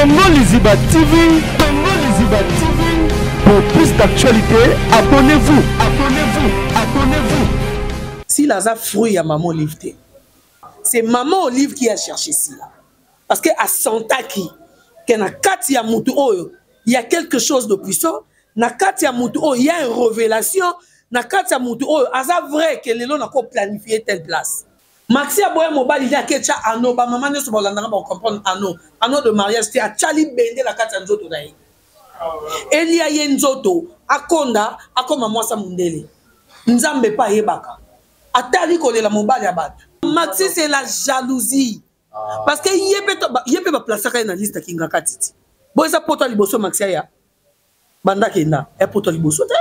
Tongo Liziba TV, Tongo Liziba TV. Pour plus d'actualités, abonnez-vous, abonnez-vous, abonnez-vous. Sila aza fruit ya maman Olive te. C'est maman Olive qui a cherché Sila. Parce que asentaki que na kati ya mutu oyo, il y a quelque chose de puissant, na kati ya mutu oyo, il y a une révélation, na kati ya mutu oyo, aza vrai que lelo na ko planifier telle place. maxi aboya mobali nde ake tya ano bamama nyonso baolandaka bacomprendre ano ano de mariage te atya libende na kati ya nzoto na ye elia ye nzoto akonda akoma mwasa mondele nzambe mpe ayebaka atali kolela mobali ya bato maxi c'est la jalousie ah. parce que ye mpe ye mpe baplasaka ye na liste ya kingakati ti bo eza poto ya liboso maxi aya banda kenda ya poto ya liboso te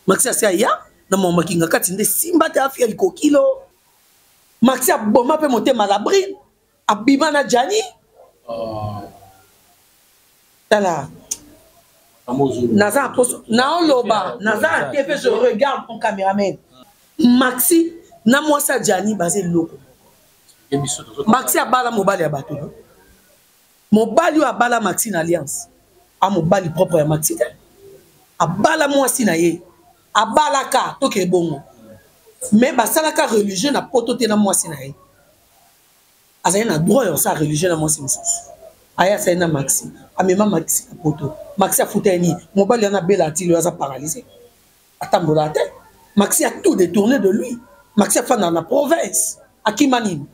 maxi asi aya na mama kingakati nde simba te afia likokilo maxi aboma mpe motema labrine abima na jani ah. tala naza aposo naoloba naza na tv je regarde mon cameraman maxi na mwasi ya jani baza eloko maxi abala mobali ya bato no mobali oyo abala maxi na alliance a mobali propre ya maxi te abala mwasi na ye abalaka toke ebongo mais basalaka religieux na poto te na mwasi na ye azali na droit ya kosala religieux na mwasi mosusu aye asali na maxi amema maxi na poto maxi afuta ye nini mobali wana abela atili oyo aza paralyse atambolaka te maxi a tout détourné de lui maxi afandaka na province akima nini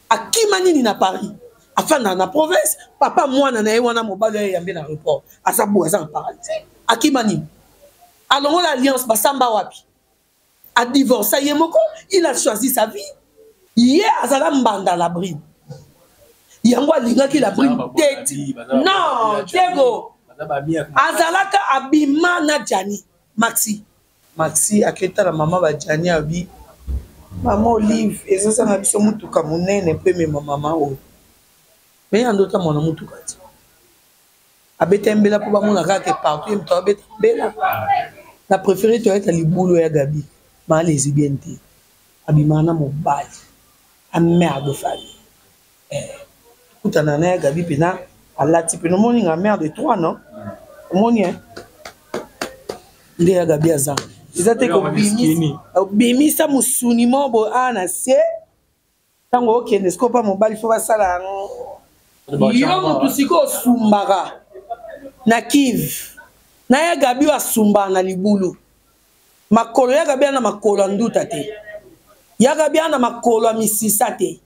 akima nini na paris afandaka na province papa mwana na ye wana mobali oyo eyambe na report aza boye aza na paralyse akima nini alongola alliance basamba wapi adivorce ye moko il a choisi sa vie ye azala mbanda la bride yango alingaki la bride teti non diego azalaka abima na jani maxi maxi aketala mama bajani abi mama olive ezozanga biso motuka monene mpo emema mama oyo me ya ndota mwana motuka ti abeta mbela mpo bamona kaka ke partout ye moto abeta mbela na préféré toyeta libulu ya gabi maa lesbienne te Abima na mobali a mère de famille eh kutana na ya Gaby pena alati pena omoni nga mère de trois non omoni hein nde ya Gaby aza eza te kobimisa obimisa musuni mobo a na se ntango okende sikoyo mpa mobali fo basala yango yo motu sikoyo osumbaka na kive na ya gabi oyo asumbaka na libulu makolo ya gabi ana makolo ya nduta te ya gabi ana makolo ya misisa te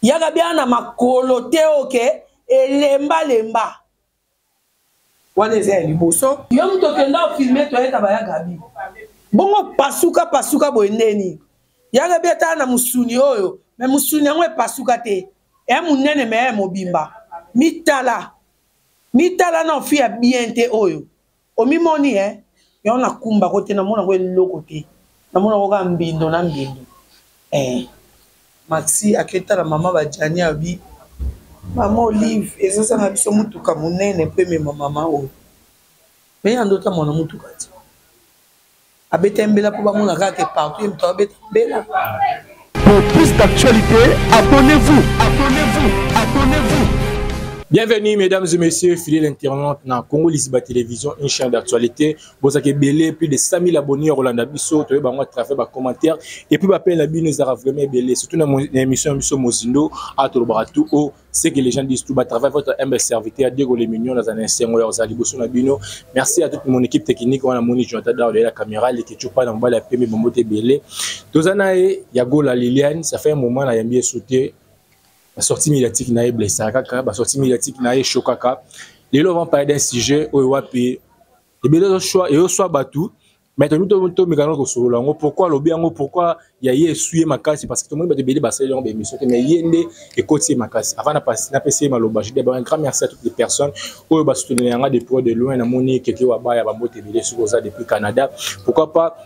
ya gabi ana makolo te oke elembalemba wana eza ya liboso yo moto okenda ofilme toyeta baya gabi bongo pasuka pasuka boye ndeni ya gabi atala na mosuni oyo me mosuni yango epasuka te ya monene me ya mobimba mitala mitala na ofi ya bien te oyo Omimoni eh yango na kumba ko te na mona ko eloko te na mona ko ka mbindo na mbindo eh Maxi aketa la mama ba Gianni abi mama Olive ezo zanga biso mutuka munene pe mema mama oyo mais ya ndota mona mutuka ti abeta mbela mpo bamona kaka ke partout ye moto abeta mbela Pour plus d'actualité, abonnez-vous, abonnez-vous, abonnez-vous. Bienvenue mesdames et messieurs, fidèles internautes na Congo Lisiba Télévision, une chaîne d'actualité. Vous avez belé plus de 100 000 abonnés au Rwanda Bisso, tu as à travers les commentaires et puis appel la bino zara vraiment belé, surtout dans l'émission Bisso Mozindo à Tolobaratou au ce que les gens disent tout bas travail votre humble serviteur Diego les mignons dans un insengo ya ozali boso na bino merci à toute mon équipe technique wana moni Jonathan Daoud la caméra les ketchup pas dans bala pembe bombo te belé tozana e ya gola Liliane ça fait un moment na yambi sauté la sortie médiatique na e blessa kaka la sortie médiatique na e chokaka lelo on va parler d'un sujet oyo wapi ebele zo choix et au soit batou mais tomi tomekana kosolola yango pourkui alobi yango pourkui ya ye esui ye makasi parce que tomoni bato ebele basali yango baémission te mais ye nde ekoti ye makasi avant napesi ye maloba je dis un grand merci à toutes les personnes oyo basoutenela yanga de près de loin namoni keke wabaya bambote ebele soki oza depuis canada pourquoi pas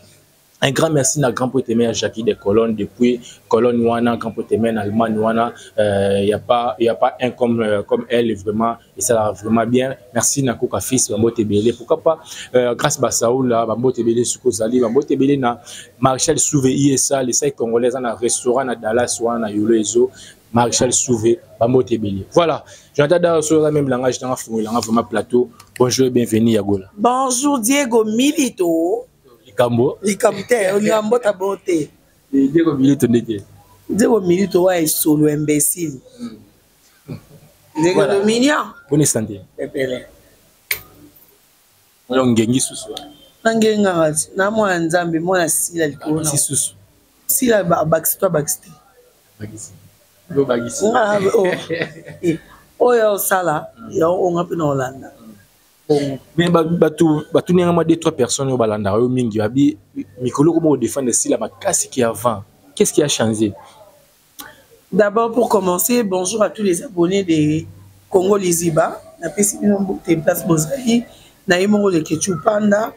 Un grand merci na grand poète à Jackie de Cologne depuis Cologne wana grand poète en Allemagne wana il euh, n'y a pas il y a pas un comme euh, comme elle vraiment esalaka vraiment bien merci na koka fils bambote ebele pourquoi pas euh, grâce basaula bambote ebele soki ozali bambote ebele na marshal souve isa lesai congolais aza na restaurant na dallas wana na yolo ezo marshal souve bambote ebele voilà jonathan dara soki oza meme langage nanga fungolanga vraiment plateau bonjour et bienvenue ya gola bonjour diego milito likambo likambo te olinga mbota bo te diego milito ndeke diego milito wa esolo imbécile mm. ndeko voilà. dominia boni sante ebele oyo ngengi susu nangengaka ti na mwana nzambe mwana sila likolo na susu sila abakisi to abakisi te oyo osala yango onga mpe na olanda mais bato batuni yanga mwa de trois personnes oyo balandaka yo mingi babi mikolo koma kodefendre esila makasi ki avant qu'est ce qui a changé D'abord pour commencer, bonjour à tous les abonnés de Congo Liziba. Na pesi bino mbote place bozali. Na ye moko le Ketchu Panda.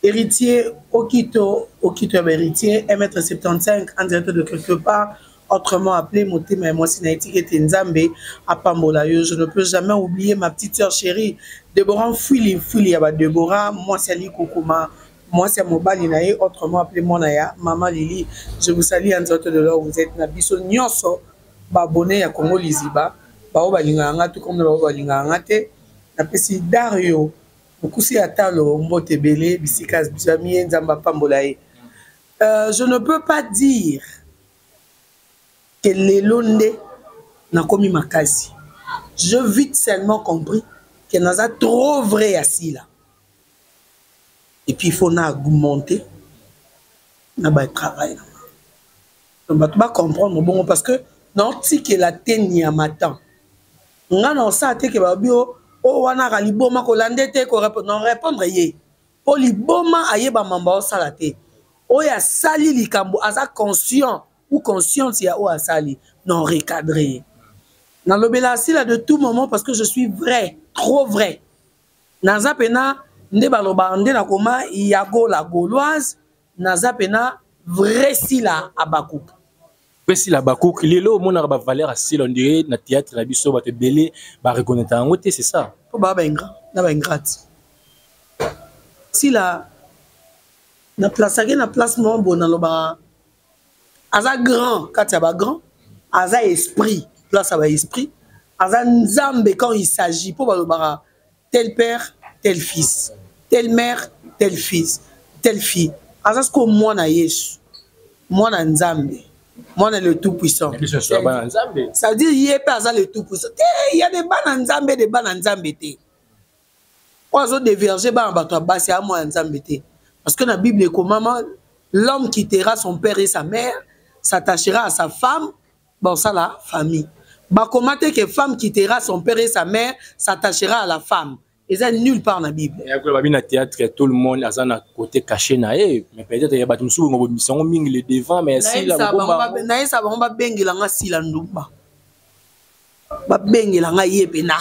Héritier Okito, Okito ya héritier, 1m75 en direct de quelque part, autrement appelé Motema ya mwasi na etike te Nzambe apambola yo. Je ne peux jamais oublier ma petite sœur chérie Deborah Fouili Fouili ya ba Deborah, mwasi ali kokoma mwasi ya mobali na ye autrement appelé mwana ya mama lili je vous salie ya nzoto de lor vous êtes na biso nyonso babone ya congo liziba baoyo balingaka nga to komna baoyo balingaka nga te napesi dario mokusi ya talo mbote ebele bisika azwami ye nzambe apambola ye euh, je ne peux pas dire ke lelo nde nakomi makasi je vite seulement compris ke naza trop vrai ya sila et puis il faut na augmenter na ba travail na donc bato ba comprendre bongo parce que naotikela te nyama temps nga na osala te ke babi o oh, o oh, wana aka liboma kolande te ko non répondre ye mpo liboma ayeba mamba osala te oyo asali likambo aza conscient ou consciente ya oyo asali non recadre ye nalobela asila de tout moment parce que je suis vrai trop vrai naza pena nde baloba nde nakoma yago la gauloise naza pena vrai sila abakuk mpe sila abakuk lelo omonaka bavaleur ya sila ondire na théâtre na biso bato ebele bareconnaitre yango te c'est ça mpo baa baingra na baingrate sila na place ake na place moko boye nalobaka aza grand kati ya bagrand aza esprit place ya baesprit aza nzambe quand il s'agit mpo balobaka tel père tel fils tel mère tel fils tel fille aza sikoyo mwana yesu mwana nzambe mwana le tout puissant c'est-à-dire ye mpe aza le tout puissant te ya deba na nzambe deba na nzambe te oyo azo deverge bana bato ya basi aya mwana nzambe te parce que na bible ekomama l'homme quittera son père et sa mère s'attachera à sa femme baosala famille bakoma te ke femme quittera son père et sa mère s'attachera à la femme eza nulle part na bible babi na théâtre tout le monde aza na côté caché na ye mais peut-être ya bato mosusu bongo bobimisa yango mingi le devant mais ya sila nayebisa bango babengela nga sila ndumba babengela ngai ye pena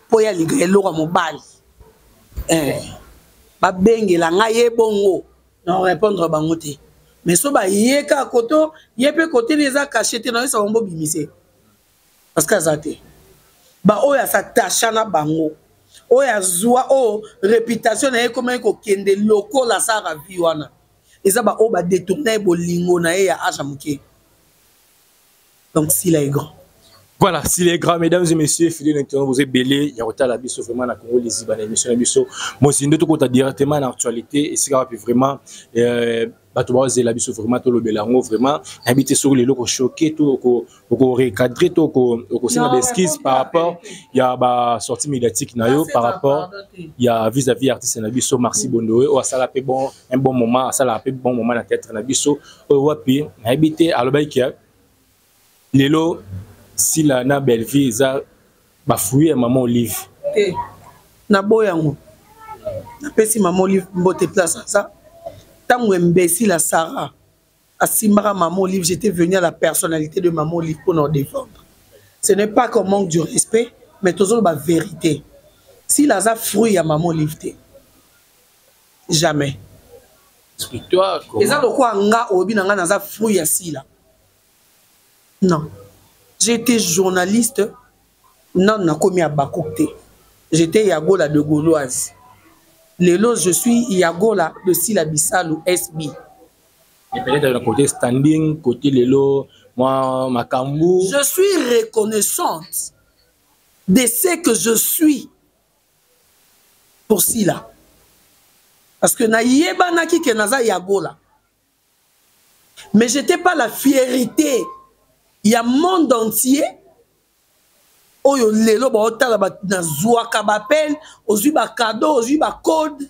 mpo ya liga eloko ya mobali eh. babengela ngai ye bongo na repondre bango te mais so baye ka koto ye mpe kote ni eza kashe te nayesa bango bobimise parce que aza te baoyo asatacha na bango oyo azwa oyo reputation na ye ekomaki kokende lokola asala vi wana eza baoyo badetourna ye bolingo na ye ya age ya moke donc sila est grand voilà s'il est grand mesdames et messieurs fidèle internaute vous êtes belé ya kotala biso vraiment na Congo liziba na émission na biso mozindo tokota directement na actualité esika wapi vraiment euh, bato bazela biso vraiment tolobela yango vraiment nayebi te soki lelo kochoke to okorecadre to okosenga baeskise par rapport ya basortie médiatique na yo par rapport ya vis-à-vis artiste na biso marci bondoe oyo asala mpe bon un bon moment asalaka mpe bon moment na théâtre na biso oyo wapi nayebi te alobaki ke lelo sila na bellevue eza bafruit ya mama olive te naboya yango napesi mama olive mbote place aza ntango embesila sara asimbaka maman olive j'étais venu à la personnalité de maman olive pour nous défendre ce n'est pas qu'on manque du respect mais tozoloba vérité s'il aza fruit ya maman olive te jamais eza lokola nga oyebi na nga naza fruit ya sila non j'étais journaliste nanu nakomi ya bakuk te j'étais yagola de gauloise lelo je suis yagola de sila bisalu sb Et peut-être le côté standing, côté lelo, moi, ma kambou. Je suis reconnaissante de ce que je suis pour Sila. Parce que na yebanaki que naza yagola. Mais j'étais pas la fierté. Il y a monde entier oyo lelo baotala nazwaka bapele ozwi bacado ozwi bacode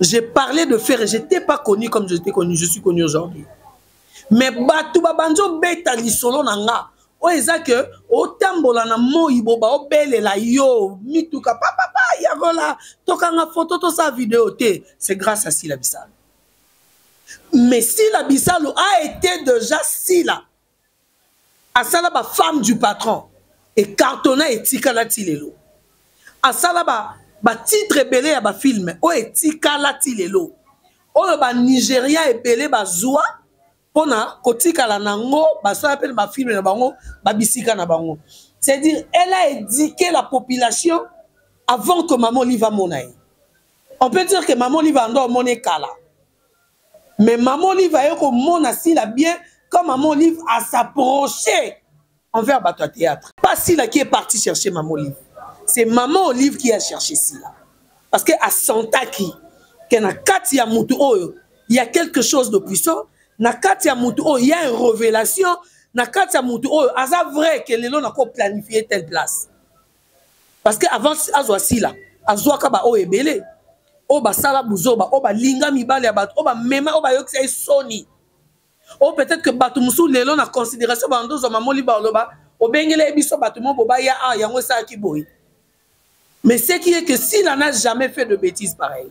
je parlais de ferre je t'ai pas connu comme je t'ai connu je suis connu aujourd'hui mais bato babanzi obeta lisolo na nga oyo eza ke otambola na moi boba obelela yo mituka papapa yakola tokanga foto tosa video te c'est grâce à sila bisalo mais sila bisalo a été déjà sila asala ba femme du patron ecartona etikala ti lelo asala ba batitre ebele ya bafilme oyo etikala ti lelo oyo banigeria ebele bazwa mpo na kotikala na yango basala mpe na bafilme na bango babisika na bango c'est-à-dire elle a éduqué la population avant que mama olive amona ye on peut dire que mama olive ando omoni kala Mais maman Olive aye ko mona sila bien quand maman Olive a s'approcher envers bato ya théâtre. Pas sila qui est parti chercher maman Olive. C'est maman Olive qui a cherché sila. Parce que a sentaki que na kati ya mutu oyo il y a quelque chose de puissant, na kati ya mutu oyo il y a une révélation, na kati ya mutu oyo aza vrai que lelo na ko planifier telle place. parce que avant azwa sila azwaka baoyo ebele oyo basala buzoba oyo balinga mibale ya bato oyo bamema oyo bayokisa ye soni oyo peut-être que bato mosusu lelo na considération bando ozwa mamoli baloba obengele ye biso bato mo bobaya a ah, yango esalaki boye mais ce qui est que sila n'a jamais fait de bêtise pareil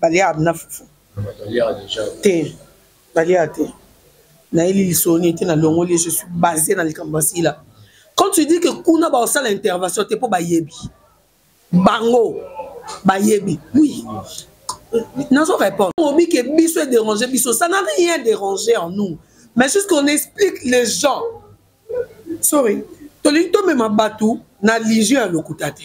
baliaka bina fufu te baliaka te nayeli lisoni ete nalongoli je suis base na likambo asila quand tu dis que kuna baosala intervention te mpo bayebi bango bayebi oui nazo répondre obi ke biso edérange biso ça n'a rien dérangé en nous mais juste qu'on explique les gens sorry tolingi tomema bato na lision ya lokuta te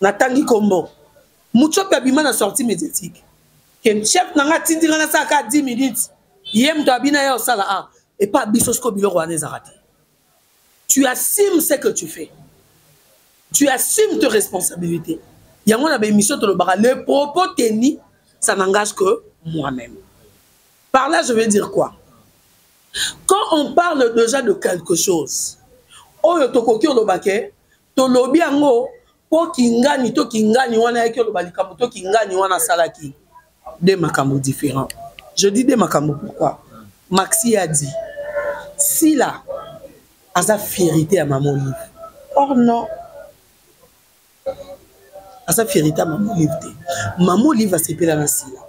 natangi kombo mutshopi abima na sortie médiatique ke chef na nga atindi nga nasala kaka 10 minutes ye moto abina ya osala a epa biso siko biloko wana ezaka te tu assume ce que tu fais tu assume te responsabilité yango na baémission tolobaka le propos teni ça n'engage que moi-même par là je veux dire quoi quand on parle déjà de quelque chose oyo tokoki olobake tolobi yango mpo kingani to kingani wana yaki oloba likambo to kingani wana asalaki de makambo différent je dis de makambo pourquoi maxi a dit sila aza fierité ya mama olive or non aza fierité ya mama olive te mama olive asepela na sila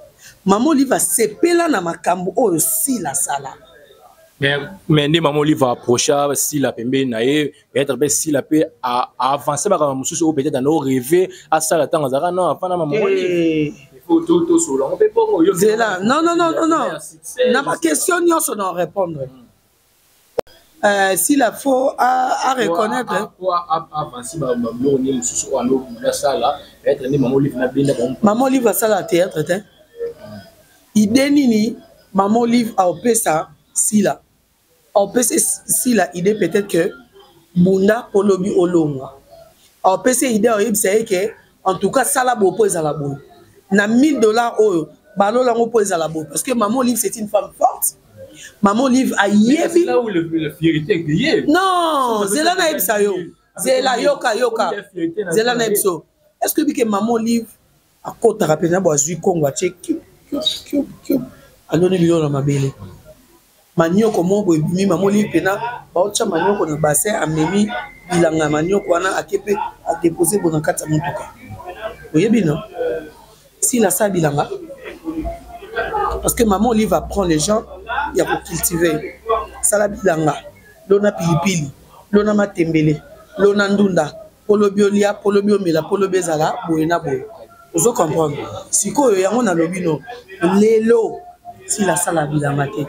mama olive asepela na makambo oyo sila asala mais nde mama olive approcha sila pembeni na ye peut-être mpe sila mpe aavance makambo mosusu oyo peut-être anao reve asala ntango azalaka no afana mama zela non non non non non na baquestion nyonso na répondre sila fo a reconnaître mama olive asala théâtre te idée nini mama olive aopesa sila opesi sila idée peut-être que bunda mpo lobi olongwa opesi ye idée oyebisa ye ke en tout cas sala boye mpo ezala boye na 1000 dollars oyo balola yango mpo ezala boye parce que maman olive c'est une femme forte maman olive ayebi non zela nayebisa yo zela yoka yoka zela nayebisa yo est ce que bike maman olive akotaka mpenza bo azwi kongo atie cube cube cube cube aloni biloko na mabele manioko moko boye ebimi mamoni mpena baotya manioko na bassin amemi bilanga ya manioko wana ake mpe adepose bo na kati ya motuka oyebi no sila asala bilanga parce que maman olive apprend les gens ya kocultive sala bilanga lona pilipili lona matembele lona ndunda polobi olia polobi omela polobi ezala boye na boye ozo comprendre sikoyo yango nalobi no lelo sila asala bilanga te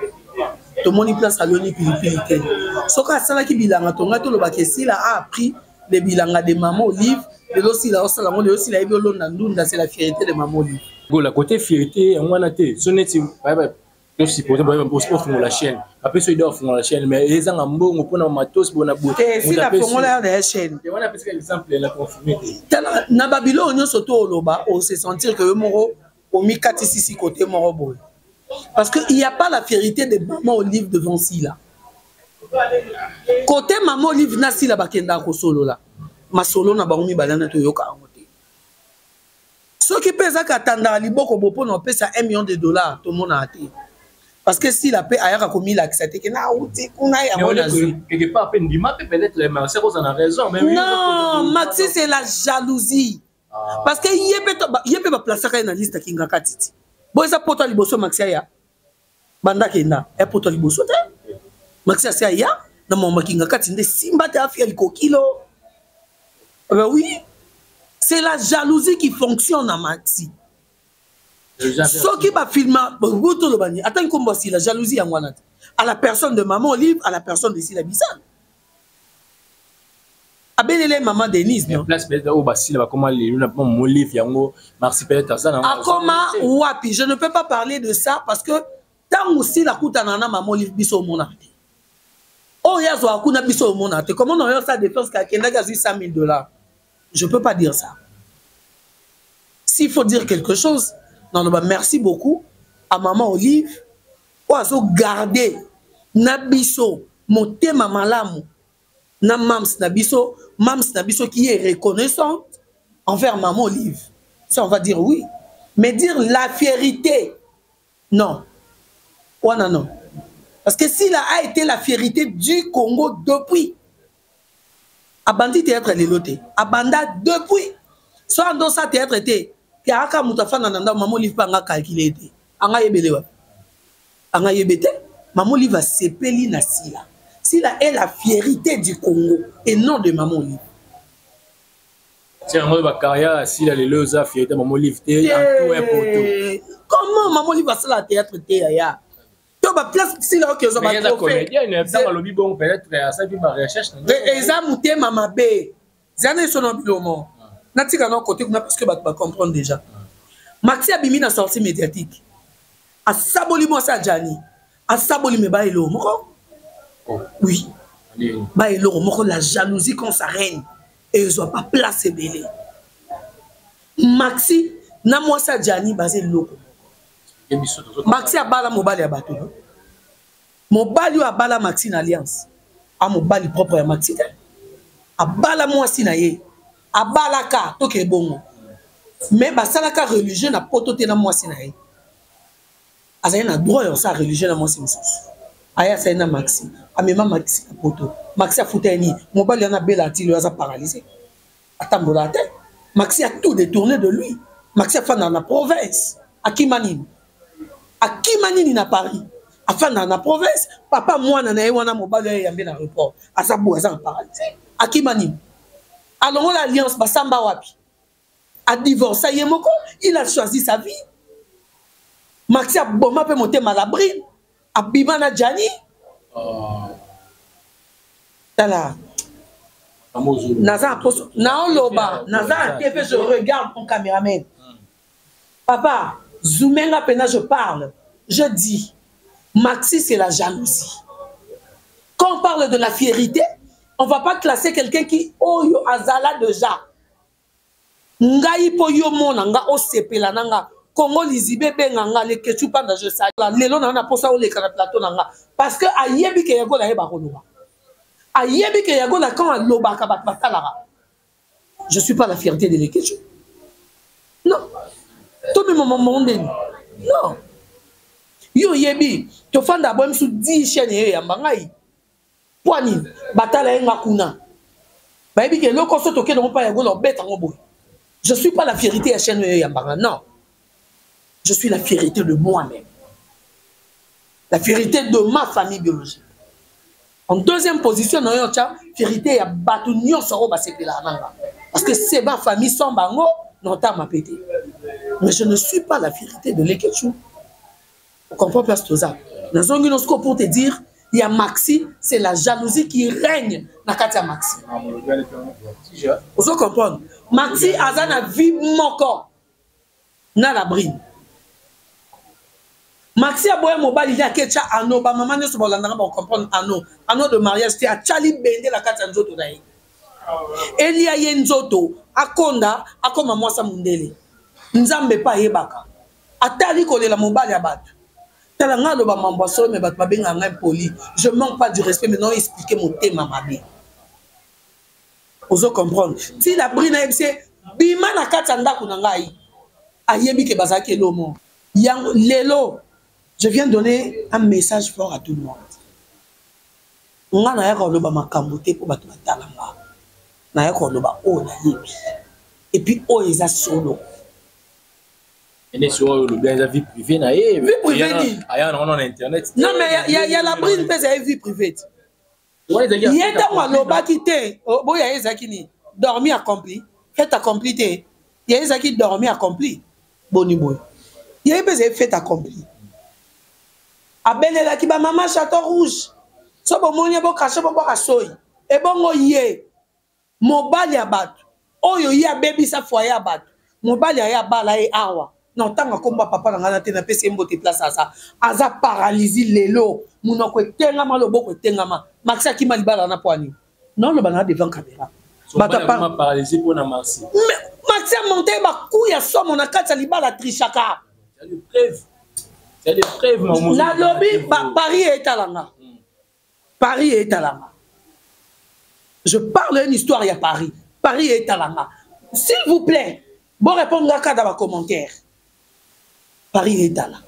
tomoni place aloni pilipili te soki asalaki bilanga tonga tolobaka esila a appris le bilanga de mama olive lelo sila osala yango lelo sila yebi olonda ndunda c'est la fierité de mama olive gola kote fierité yango wana te so neti to supposé boye ofungola chaîne apesi oyo afungola chaîne mais ezanga mbongo mpo na matos bona boesila eh, fongola yo na ya chaîne tala na babiloko nyonso to oloba ose sentir ke yo moko omikatisisi kote moko boye parce que il y a pas la vérité de maman olive devant sila kote maman olive na sila bakendaka kosolola masolo na bango mibale na toyoka yango te soki mpe ezaka atandaka liboko bo mpona opesa 1 million de dollar tomonaka te parce que sila mpe ayaka komilakisa te ke nauti kuna yango nazwi non maxi c'est la jalousie ah. parce que ye mpe baplacaka ye na liste akingaka titi bo eza poto ya liboso maxi aya banda kenda ya poto ya liboso te maxi asi aya na mwa makinga kati nde simba te afia likokilo ah ben oui c'est la jalousie qui fonctionne na maxi soki bafilma bo tolobani atangi nkombo asila jalousie yango wana te à la personne de maman olive à la personne de sila bisana abelele mama denise no place peut-être oyo basila bakoma lelo na mpo molive yango marsi peut-être aza nango akoma wapi je ne peux pas parler de ça parce que ntango sila akutana na mama olive biso omonaka te oyo azwaka kuna biso omonaka te comment nayo sa défense ke akendaki azwi 100 000 dollars je peux pas dire ça s'il faut dire quelque chose naloba merci beaucoup à maman olive oyo azo garde na biso motema malamu na mams na biso mams na biso qui est reconnaissante envers maman olive ça on va dire oui mais dire la vérité non wana non parce que sila a été la vérité du congo depuis abandi théâtre lelo te abanda depuis so ando sa théâtre te kaka moto afanda na ndako mama olive mpe anga calcule te anga yebele wapi anga yebe te mama olive asepeli na sila sila est la fierité du congo et non de mama olive tiango oyo bacarrière ya sila lelo eza fierité mama olive te en tout un poto comment mama olive asala théâtre te yaya to ba place sila oki ozwa ba trophée alobi bongo peut-être euh, asaki ba recherche eza motema mabe zana iso na bilomo ah. natika na kote kuna parce que bato ba comprendre déjà ah. maxi abimi na sortie médiatique asaboli mwasi ajani asaboli me ba eloko moko oh. oui ba eloko moko la jalousie quand ça règne ezwa ba place ebele maxi na mwasi ajani baza eloko maxi abala mobali ya bato no mobali oyo abala maxi na alliance a mobali propre ya maxi te abala mwasi na ye abalaka toke ebongo mais basalaka religieux na poto te na mwasi na ye azali na droit ya kosala religieux na mwasi mosusu aye asali na maxi amema maxi na poto maxi afuta ye nini mobali wana abela atili oyo aza paralyse atambola te maxi a tout détourné de lui maxi afandaka na province akima nini akima nini na paris afandaka na province papa mwana na ye wana mobali ya yambe na report aza boye aza na paradis akima nini alongola alliance basamba wapi adivorsa ye moko il a choisi sa vie maxi aboma mpe motema labrine abima na jani ah. tala naza na poso naoloba naza na te mpe je regarde mon cameraman hmm. papa zoome nga mpena je parle je dis maxi c'est la jalousie quand on parle de la fierité on va pas classer quelqu'un qui oyo azala déjà ngai mpo yo mona nga osepela na nga kongo lizibe ebenga nga leketsu panda je sala lelo na yo na mposa oleka na plateau na nga parce que ayebi ke yagola ayeba koloba ayebi ke yagola quand alobaka bato batalaka je suis pas la fierté de leketsu non tomema mamango ndeni non yo oyebi tofanda boye misu 10 chaine eyo eyamba ngai mpo nini batala ye nga kuna bayebi ke eloko so tokende ngo mpa ya gola obeta ngo boye je suis pas la fierité ya chaîne oyo eyambanga non je suis la fierité de moi-même la fierité de ma famille biologique en deuxième position na yo tya fierité ya bato nyonso oyo basepelaka na nga parce que c'est ma famille sans bango notama mpe te mais je ne suis pas la fierité de lekechou O comprend place toza. Na zongi no siko pour te dire ya Maxi c'est la jalousie qui règne na kati ya Maxi. Ozo comprendre? Maxi aza na vie moko na la brine. maxi aboya mobali ye aketya ano bamama nyonso balandaka bakokomprendre ano ano de mariage te atya libende na kati ya nzoto na ye elia ye nzoto akonda akoma mwasa mondele nzambe mpe ayebaka atali kolela mobali ya bato tala ngai aloba mambo ya solo me bato babengaka ngai mpoli je manque pas du respect maintenant explike motema mabe ozo comprendre ti la bri nayebi se bima na kati ya ndako na ngai ayebi ke bazalaki elomo yango lelo je viens donner un message fort à tout le monde ngai nayaka koloba makambo te mpo bato batala nga nayaka koloba oyo nayebi epuis oyo eza solo ene soki oyo olobi eza vie privée na ye vie privée nini aya na wana na internet non mais ya ya la brune mpe ezali vie privée te ye ntango alobaki te boya ye ezalaki nini dormi accompli fete accompli te ye ezalaki dormi accompli boni boye ye mpe ezali fete accompli abelelaki bamama chateau rouge so bomoni ye bokache bobwaka soi ebongo ye mobali ya bato oyo ye abebisa foye ya bato mobali aye abala ye awa na ntango akomba papa na ngai na te napesi ye mbote place aza aza paralysie lelo monoko etengama loboko etengama maxi akima libala na mpo anini naoloba na devant camera maxi amonte ye baku ya somo na kati ya libala trishaka nalobi bapari etalanga Paris et Talanga. Je parle une histoire ya Paris. Paris et Talanga. S'il vous plaît, bon répondre là dans les commentaires. Paris et Talanga.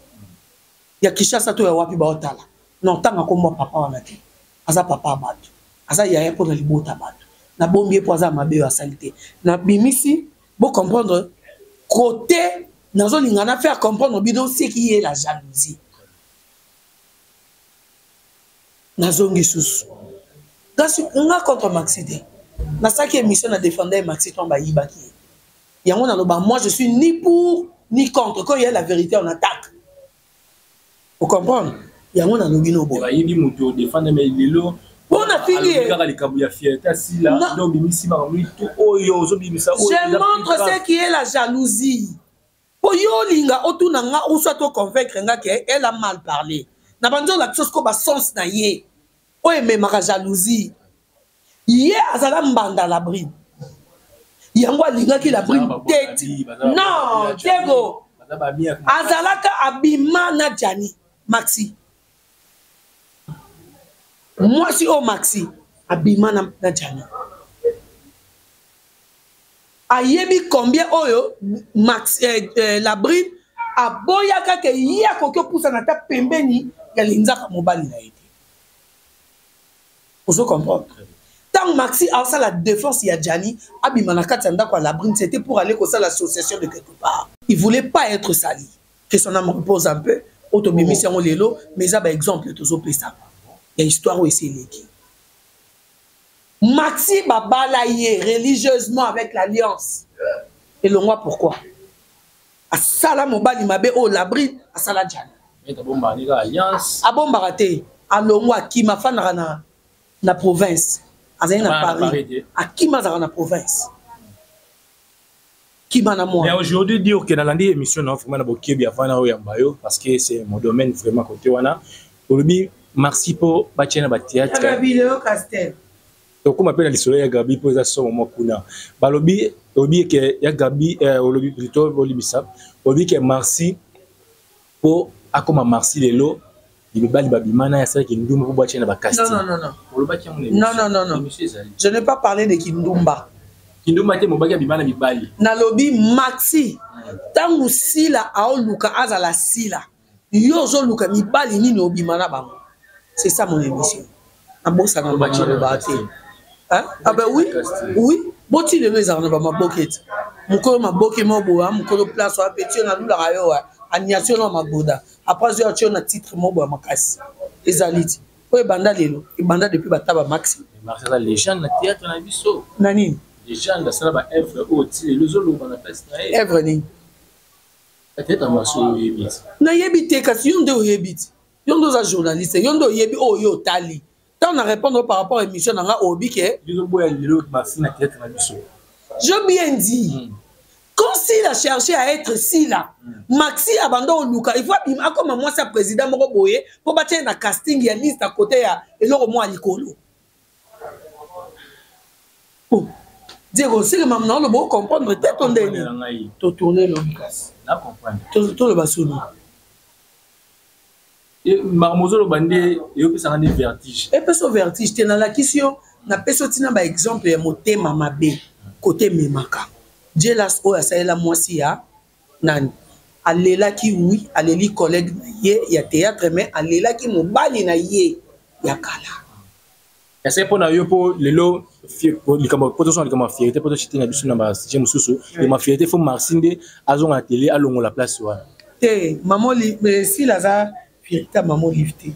Ya Kishasa to ya wapi ba otala. Non, tanga ko moi papa wana te. Aza papa batu. Aza yaya pour na libota batu. Na bombi pour aza mabe ya salité. Na bimisi, bon comprendre côté nazo lingana faire comprendre bidon c'est qui est la jalousie. nazongi susu kasi nga contre maxi te nasalaki émission na défenda ye maxi to bayibaki ye yango naloba moi je suis ni pour ni contre quand il y a la vérité on attaque vous comprenez yango nalobi no boye bayebi moto odefanda mai lelo mpo nafingi ye kaka likambo ya fierté asila nde obimisi makambo to oyo ozobimisa je montre ce qui est la jalousie po yo olinga otuna nga ou soit to convaincre nga ke elle a mal parler na bandi olakisa siko ba sens na ye oyo ememaka jalousie ye azala mbanda la brine yango alingaki la brine tete non diego azalaka abima na jani maxi mwasi oyo maxi abima na, na jani ayebi combien oyo max eh, eh, labrine aboyaka ke ye akoki opusana ata pembeni ya linzaka mobali na ye te ozo comprendre ntango maxi asala défense ya jani abima na kati ya ndako ya labrine c'était pour aller kosala association de quelque part il voulait pas être sali que son âme repose un peu oyo tobimisi yango lelo mais eza baexemple tozopesa ya histoire oyo esi eleki mati babala ye religieusement avec l'alliance elongwa pourquoi asala mobali mabe oyo labride asala jana abombaka te alongwa akima afandaka na, na province azali na paris akima azalaka na province kima na moi. Mais aujourd'hui dire que nalandi émission na vraiment na bokebi avant na oyamba yo parce que c'est mon domaine vraiment côté wana olobi merci po batia na ba théâtre. Gabi Leo Castel. tokóma mpe na lisolo ya gabi mpo eza somo mwa kuna balobi olobi eke ya gabi eh, olobi plutôt bolibisa olobi ke marsi po akoma marsi lelo libebali babima naye asala kindumba po bwatye na bacasting non, non, non. olobaki yango non, non, non, non. je n'ai pas parlé de kindumba kindumba te mobaki abima na mibali nalobi maxi ntango sila aoluka azala sila yo ozoluka mibali nini obima na bango c'est ça mon émission nabosana bango nalobaka te ah ben oui oui boti lelo ezalaka na bamaboke ete mokolo maboke moko boya ah, mokolo place oya peti yo nalulaka yo wa ah, aniatio na magoda apres azwi atio na titre moko boya makasi ezali ti oyo ebanda lelo ebanda depuis bataba maxi na nini evre nini nayebi te kasi yo nde oyebi ti yo nde oza journaliste yo nde oyebi oyo yo otali ntango na répondre par rapport émission na nga obi ke je bien dit mm. quand sila cherche à être sila mm. maxi abanda oluka il faut abima akoma mwasi ya président moko boye mpo batya ye na casting ya liste à côté ya eloko moko ya likolo Oh, Diego, c'est que maman, on peut comprendre, t'es ton dernier. T'as tourné le casse. T'as compris. T'as le bassono. marmozolo bande eyopesaka nde vertige epesa vertige te nalakisi yo napesi otina baexemple ya motema mabe kote ememaka jelas oyo asalela mwasi ya Nani? Alelaki oui aleli collegue na ye ya theatre mais alelaki mobali na ye ya kala. Est-ce que pona yo po lelo likambo po tosala likambo ya fierté po toshite na biso na ba sujet mosusu et ma fierté faut Marcy nde azonga na tele alongola place wana. Te mamoli mais sila aza fierté ya mamolive te.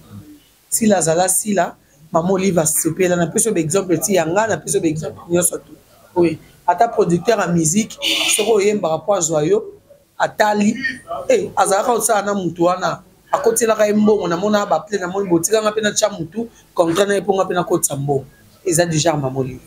Sila azala sila maman olive asepela na pesi yo baexemple ti ya nga na pesi yo baexemple nyonso tu oye ata producteur ya musique soki oyembaka mpo azwa yo atali e azalaka kosala na motu wana akotielaka ye mbongo namonaka baple namoni botikanga mpe natya motu contrat na ye mpo nga mpe nakotisa mbongo eza deja maman olive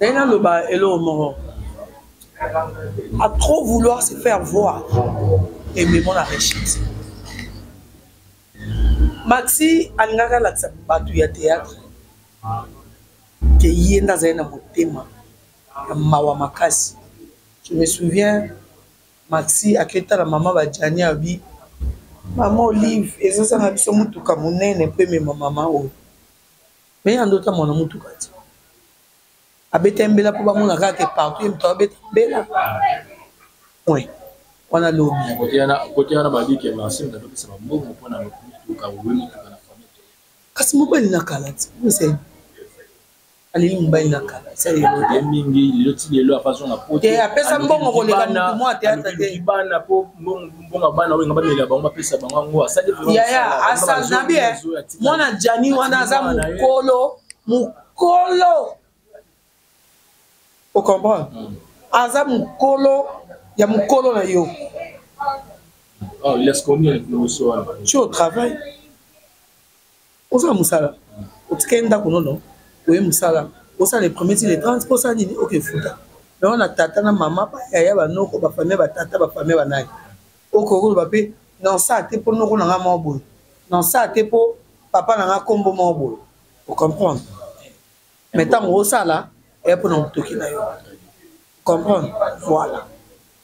naye naloba eloko moko a trop vouloir se faire voir ememo na rechite maxi alingaka alakisa bato ya théâtre ke ye nde azali na motema ya mawa makasi je me souviens Maxi ake tala maman ba Djani abi maman olive ezo zanga biso mutuka munene po emema maman oyo mais ye ando tambola na mutuka ti abeta ye mbela po bamona kaka ke partout ye moto abeta mbela point wana lobi kote wana babi ke marsi moto atopesa bambongo mpo na motuka owe motuka na famille kasi mobali na kala ti aleli mobali na kala eza lelo te mingi lelo ti lelo afazonga po te apesa mbongo koleka motu mwa teatre te bana po mbongo bana oyo nga bamela bango bapesa bango yango asali yaya asana bien mwana jani wana aza mokolo mokolo ocomprendre hmm. aza mokolo ya mokolo na yo Oh, il laisse combien le au travail oza na mosala otikali ndako nono oye mosala osala le premier ti le 30 mpo osala nini oke futa me wana tata na mama bayaya banoko bafamie batata bafamie banani okoki koloba mpe na osala te mpo noko na ngai moko boye na osala te mpo papa na ngai nkombo moko boye ocomprendre mais ntango osala eya mpona motoki na yo comprendre voilà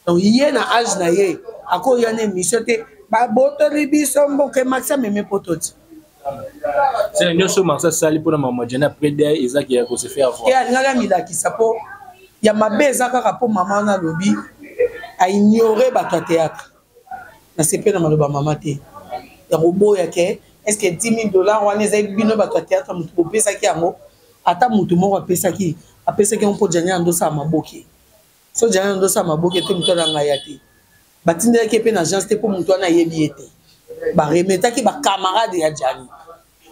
donc ye na age na ye akoya na émission te babotoli biso mboke maxi amemi poto ti sena nyonso maxi asali mpona mama jane après de ezaki ya kose faire voir alingaki amilakisa mpo ya mabe eza kaka mpo mama wana alobi aignore bato ya théâtre nasepeli na maloba mama te ya koboya ke eske 10000 dollars wana ezali bino bato ya teatre moto bopesaki yango ata moto moko apesaki apesaki yango mpo jania andosala maboke so jania andosala maboke te moto ana ngai ya te batindelaki ye mpe na agence te mpo moto wana ayebi ye te baremetaki bacamarade ya jani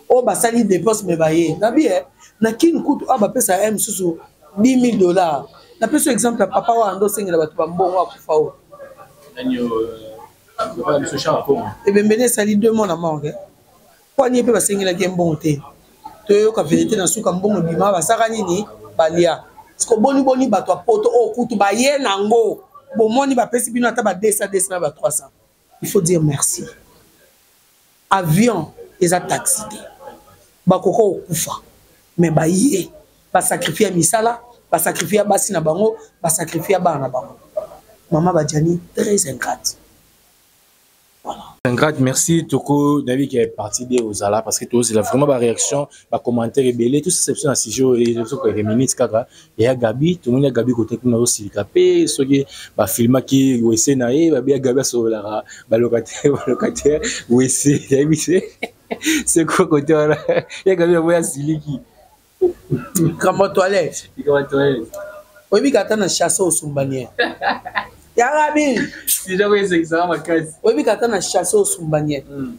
oyo basali depense me baye nabi e na kini kutu oyo bapesa ya mosusu 10 000 dollars napesi yo exemple ya papa wana nde osengela bato bambongo akufa oyo ebembeni esali deux mois na morgue mpo anie mpe basengelaki ye mbongo te toyoka verité na suka mbongo ebima basaka nini balia siko boni boni bato ya poto oyo kutu baye nango bomoni bapesi bino ata ba 200 200 na ba 300 Il faut dire merci. Avion eza taxi te. Bakoko okufa mais baye ba sacrifier misala, ba sacrifier basi na bango, ba sacrifier bana na bango. Maman Badjani très ingrate. Voilà. Ingrate, merci. Toko, Navi qui est parti de Ozala parce que tu as vraiment ba réaction, ba commentaire belé, tout ça c'est un sujet et les autres minutes kaka. ya gabi tomoni ya gabi kote kuna osilika mpe soki bafilmaki wese na ye babi ya gabi asololaka balocataire balocataire wese nayebi se seko kote wana ya gabi yango asiliki likambo ya toilette likambo ya toilette oyebi kata na chasse osumbanie ya gabi oyebi kata na chasse osumbanie hmm.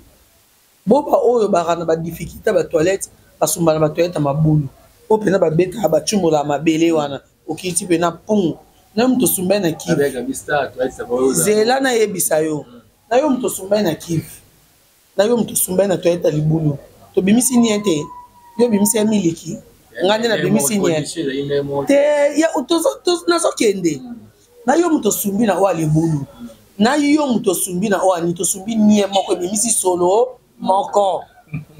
Bo ba oyo baka na ba difficulté ba toilette basumba na ba toilette ya mabulu po pena babeta bacumbola mabele wana okiti pena pung nayo moto osumbai na kive zela nayebisa yo nayo moto osumbai na kive nayo moto osumbai na toilette ya libulu tobimisi nie te yo obimisi ya miliki ngai nde nabimisi nie te nazokende na yo moto osumbi na oyo alebulu na yo moto osumbi na oyo ani tosumbi nie moko ebimisi solo moko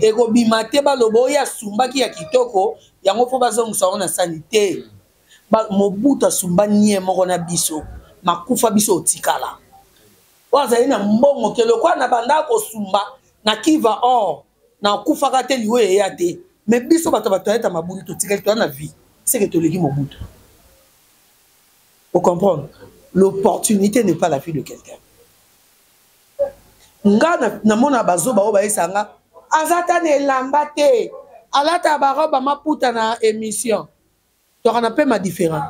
ekobima te baloba oyo asumbaki ya kitoko yango mpo bazongisa yango na sani te mobutu asumba nie moko na biso makufa biso otikala oyo azali na mbongo ke lokola na bandaka kosumba na kiva or nakufaka te liwa eya te me biso bato bato ayeta mabulu totikali toya na vie seke toleki mobutu ocomprendre l'opportunité n'est pas la vie de quelqu'un nga namona bazoba oyo bayesa nga aza ta na elamba te alata baroba maputa na émission Tozalaka na pema different.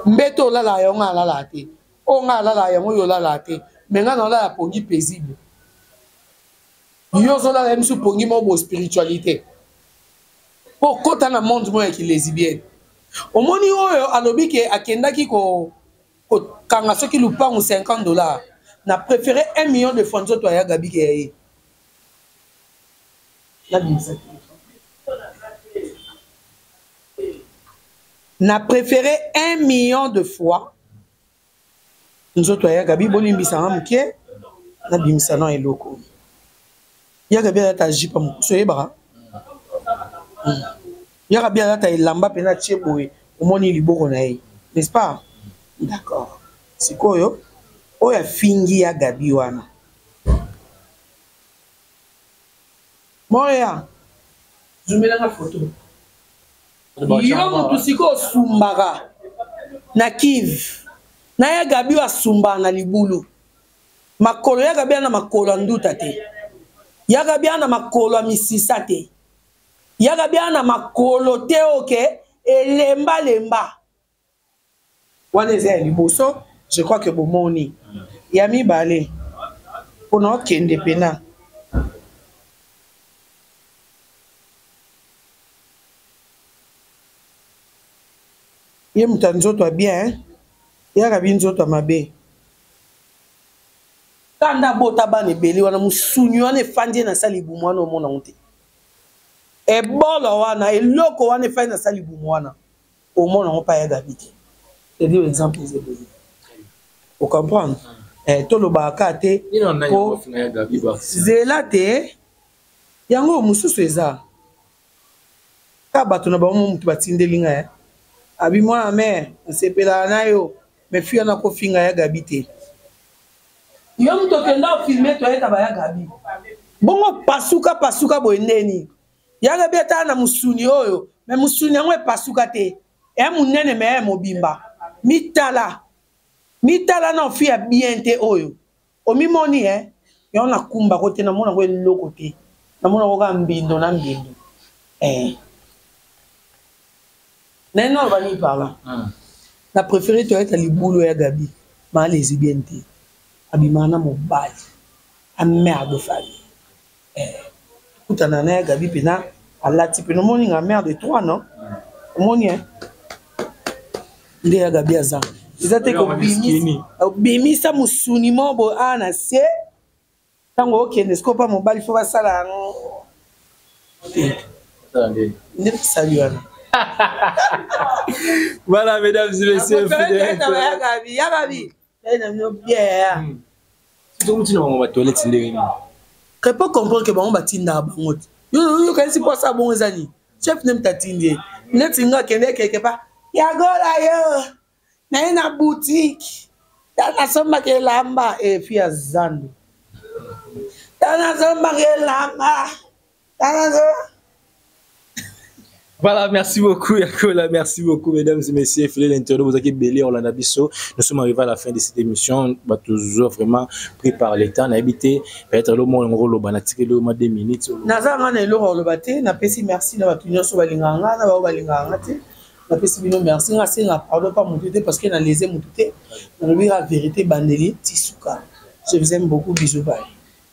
Mbeto olalaka yango ngai alalaka te. Oyo ngai alalaka yango yo olalaka te. Mais ngai naolala pongi paisible. Yo ozolala biso pongi moko bo spiritualité. Po kota na monde moko ya kilesibienne. Omoni oyo alobi ke akendaki ko kokanga soki lupangu 50 dollars. Na prefere 1 million de francs nzoto ya Gabi ke ya ye. Nabimisa te. na préféré un million de fois nzoto ya yagabi bolimbisanga moke nabimisa na eloko yagabi alata jipa mokusu oyebaka hmm. yagabi alata elamba mpe natie boye omoni liboko na ye n'est-ce pas d'accord sikoyo oyo afingi ya gabi wana Moya zoomela nga photo yo mutu sikoyo osumbaka na kiv na ya gabi oyo asumbaka na libulu makolo ya gabi ana makolo ya nduta te ya gabi ana makolo ya misisa te ya gabi ana makolo te oke elembalemba wana eza ya liboso je crois que bomoni ya mibale mpona okende mpena ye moto ya nzoto ya bien eh? yaka bi nzoto ya mabe kanda abota bana ebele wana mosuni wana efandi ye na sala libumu wana omona yango te ebolo wana eloko wana efandi na sala libumu wana Omona ngo pa ya Gabi te. C'est dire exemple eza boye. Vous comprenez? Eh tolobaka ka te po zela te yango mosusu eza ka bato na bango motu batindeli ngai eh. abi mwana mare nasepelaka na yo me fi wana kofinga ya gabi te yo moto okenda ofilme toyeta baya gabi bongo pasuka pasuka boye ndeni yanga bia tala na musuni oyo me musuni yango epasuka te e monene me e mobimba mitala mitala na ofi ya bien te oyo omimoni e yango nakumbako te namona yango eloko te namona yango kaka mbindo na mbindo e naye nano bani parla hmm. na préféré toyeta libulu ya gabi maa lesbienne te abimaka na mobali amerde fali Kutana na ya Gaby pena alati pena omoni nga mère de trois non omoni hein nde ya Gaby aza eza te kobimisa musuni mo bo a na se ntango okende sikoyo mpa mobali fo basala yango nde basali wana voilà mesdames et messieurs ya gabi ya gabi tokomitina bango batoilette ndenge nini kepo comprendre ke bango batindaka bango te yokanisi mpo asala bongo eza nini chef nde mtatindi ye neti nga akende keke pa yagola yo naye na butike ta nasombaka elamba efi ya zando ta nasombaka elamba Voilà, merci beaucoup Yakola, merci beaucoup mesdames et messieurs, filet l'internaute, vous avez belé on l'a biso. Nous sommes arrivés à la fin de cette émission, bah toujours vraiment pris par l'état, n'a habité peut-être le monde ngolo loba na tike le ma 2 minutes. Naza ngana eloko loba te, na pesi merci na batu nyoso balinga nga, na ba balinga nga te. Na pesi bino merci, nga senga pardon pas mutu te parce que na lese mutu te. Na lobi la vérité bandeli tisuka. Je vous aime beaucoup, bisous bye.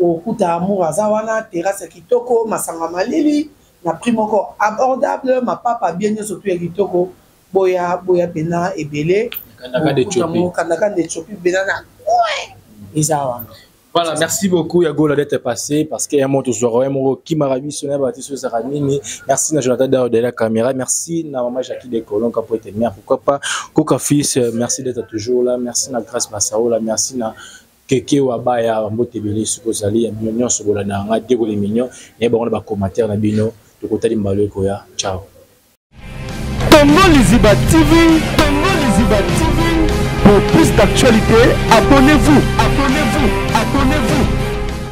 Okokuta amour aza wana, terrasse ya kitoko, masanga malili na prix moko abordable, mapapa bien nionso tout ya kitoko. Boya boya pena ebele. Kanda kanda Ethiopie bena na coin eza wana. Voilà, merci beaucoup ya Gola d'être passé parce qu'il y a moto zoro ya moko qui m'a ravi sur la bâtisse sur Zaramini. Merci na Jonathan Dao de la caméra. Merci na maman Jackie de Colon qui a été mère pourquoi pas Coca Fils. Merci d'être toujours là. Merci na Grace Massaola. Merci na keke wa baya mbote ebele soki ozali ya mino nyonso bolanda yanga dekole mignon naye bango na bacommentaire na bino tokotali mbala ekoya ciao Congo Liziba TV, Congo Liziba TV. Pour plus d'actualités, abonnez-vous.